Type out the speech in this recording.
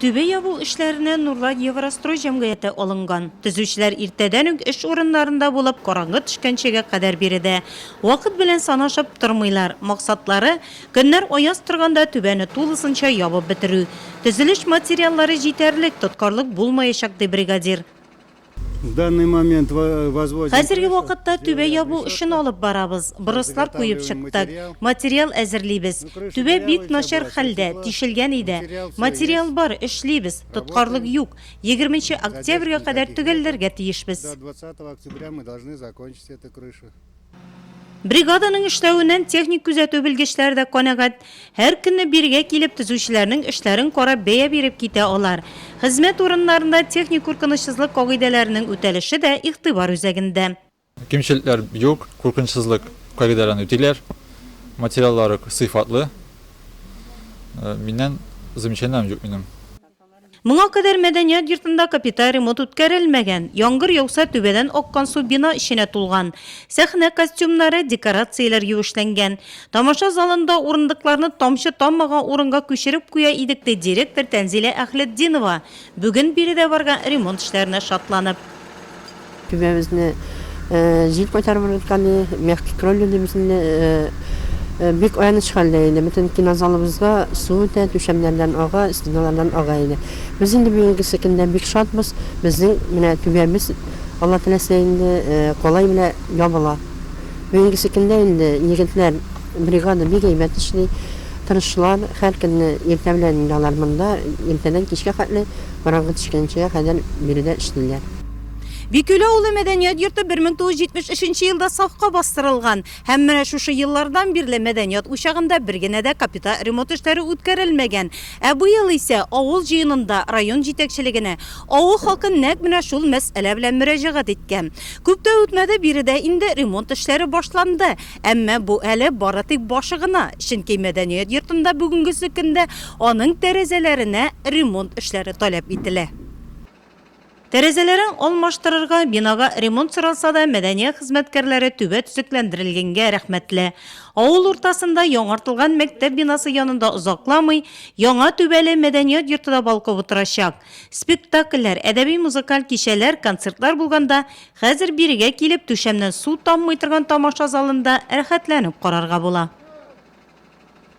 Төбе ябу эшләренә Нурлат Еврострой җәмгыяте алынган. Төзүчеләр иртәдән үк эш урыннарында булып, караңгы төшкәнчегә кадәр биредә. Вакыт белән санашып тормыйлар. Максатлары, көннәр аяз торганда түбәне тулысынча ябып бетерү. Төзелеш материаллары җитәрлек, тоткарлык булмаячак, ди бригадир. Хәзерге вакытта түбә ябу эшен алып барабыз, брослар куеп чыктык, материал әзерлибез. Түбә бик начар хәлдә, тишелгән иде. Материал бар, эшлибез, тоткарлык юк. Егерменче октябрьгә кадәр төгәлләргә тиешбез. Бригаданың эшләвеннән техник күзәтү белгечләре дә канәгать. Һәр көнне бирегә килеп, төзүчеләрнең эшләрен карап, бәя биреп китә алар. Хезмәт урыннарында техник куркынычсызлык кагыйдәләренең үтәлеше дә игътибар үзәгендә. Кимчелекләр юк, куркынычсызлык кагыйдәләрен үтиләр, материаллары сыйфатлы. Миннән замечаниеләрем юк минем. Моңа кадәр мәдәният йортында капиталь ремонт үткәрелмәгән. Яңгыр яуса, түбәдән аккан су бина эченә тулган. Сәхнә костюмнары, декорацияләр юешләнгән. Тамаша залында урындыкларны тамчы таммаган урынга күчереп куя идек, ди директор Тәнзилә Әхлетдинова, бүген биредә барган ремонт эшләренә шатланып. Түбәбезне җил кайтарып ыргыткан иде. Мягкий кровля дибез инде. Бик аяныч хәлдә иде. Бөтен кинозалыбызга су үтә, түшәмнәрдән ага, стеналардан ага иде. Без инде бүгенгесе көндә бик шатбыз. Безнең менә түбәбез, Алла теләсә, инде калай белән ябыла. Бүгенгесе көндә инде егетләр, бригада бик әйбәт эшли, тырышлар. Һәр көнне иртә белән инде алар монда, иртәдән кичкә хәтле, караңгы төшкәнчегә кадәр биредә эшлиләр. Бикүл авылы мәдәният йорты 1973 елда сафка бастырылган һәм менә шушы еллардан бирле мәдәният учагында бер генә дә капиталь ремонт эшләре үткәрелмәгән. Ә быел исә авыл җыенында район җитәкчелегенә авыл халкы нәкъ менә шул мәсьәлә белән мөрәҗәгать иткән. Күп тә үтмәде, биредә инде ремонт эшләре башланды. Әмма бу әле бары тик башы гына, чөнки мәдәният йортында бүгенгесе көндә аның тәрәзәләренә ремонт эшләре таләп ителә. Тәрәзәләрен алмаштырырга, бинага ремонт соралса да, мәдәният хезмәткәрләре түбә төзекләндерелгәнгә рәхмәтле. Авыл уртасында яңартылган мәктәп бинасы янында озакламый яңа түбәле мәдәният йорты да балкып утырачак. Спектакльләр, әдәби-музыкаль кичәләр, концертлар булганда, хәзер бирегә килеп, түшәмнән су таммый торган тамаша залында рәхәтләнеп карарга була.